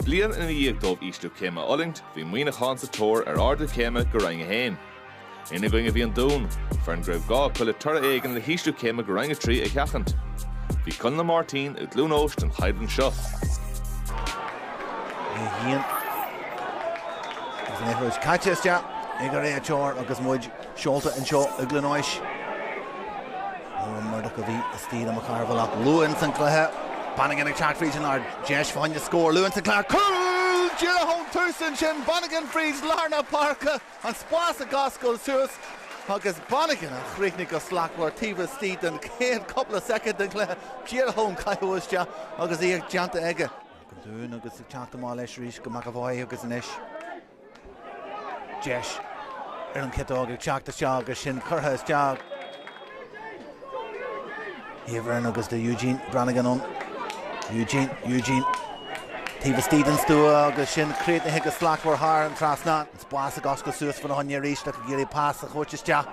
Bliain ina dhiaidh dóibh ísliú céime a fhulaingt, bhí Muineachán sa tóir ar ardú céime go Roinn 1. Ina gcoinne bhí an Dún, foireann go raibh gá acu le toradh éigin le hísliú céime go Roinn 3 a sheachaint. Bhí Conn Ó Máirtín i gCluain Eois don cheann seo. Seolta anseo i gCluain Eois. Murdock a bhí istigh le Mac Cearbhaill ach luath ins an cluiche Bannigan ag teacht fríd an lár. Deis fána choinne scór luath ins an cluiche. Cúl díreach ón tús ansin, Bannigan fríd lár na páirce, an spás ag oscailt suas agus Bannigan a chríochnaigh go slachtmhar taobh istigh den chéad cúpla soicind den chluiche, díreach ón caitheamh isteach agus iad déanta aige. Don Dún agus ag teacht amach leis arís go McEvoy agus anois. Deis ar an chiotóg ag teacht isteach agus sin curtha isteach. Aoibhreann agus tá Eugene Brannigan ann. Eugene, Eugene. Taobh istigh den stua agus sin críochnaithe go slachtmhar thar an trasnán. Spás ag oscailt suas fána choinne arís le go dtig leis pas a thabhairt isteach.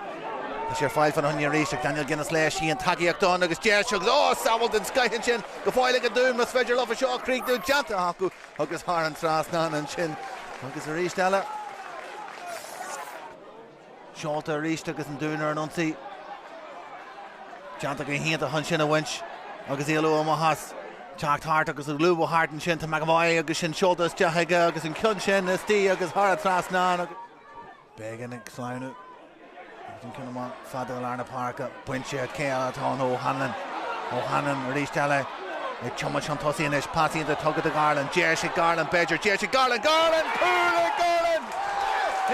Tá sé ar fáil fána choinne arís ag Daniel Guinness leis. Bhí an tacaíocht ann agus deis agus, oh! sábháil den scoth ansin go fóill ag an Dún, más féidir leo seo a chríochnú déanta acu. Agus thar an trasnán ansin agus arís eile. Seolta arís agus an Dún ar an ionsaí. Déanta go hiontach ansin a bhaint agus éalú amach as. Teacht thart agus ag lúbadh thart ansin tá McEvoy agus sin seolta isteach aige agus an ceann sin istigh agus thar an trasnán. Beggan ag sleamhnú agus an ceann amach fada i lár na páirce. Bainte ag cé eile atá ann O'Hanlon. O'Hanlon arís eile ag tiomáint chun tosaigh anois. Pas iontach tugtha do Garland. Deis ag Garland b'fhéidir. Deis ag Garland. Garland! Cúl ag Garland!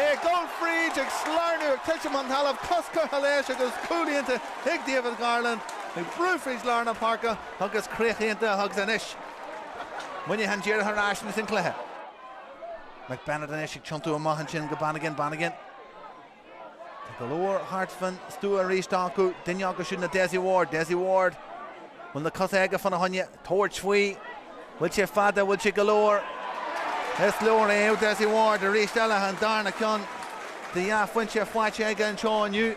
É ag dul fríd ag sleamhnú ag titim chun talaimh. Cos curtha leis agus cúl iontach ag David Garland ag brú fríd lár na páirce agus críoch iontach agus anois Muineachán díreach ar ais ins an cluiche. McBennett anois ag tiontú amach ansin go Bannigan, Bannigan Tá go leor thart faoin stua arís acu, duine acu siúd ná Dessie Ward, Dessie Ward bhfuil na cosa aige fána choinne, tabhairt faoi, bhfuil sé fada, bhfuil sé go leor, is leor é, Dessie Ward arís eile, an darna ceann de dhá phointe faighte aige anseo inniu.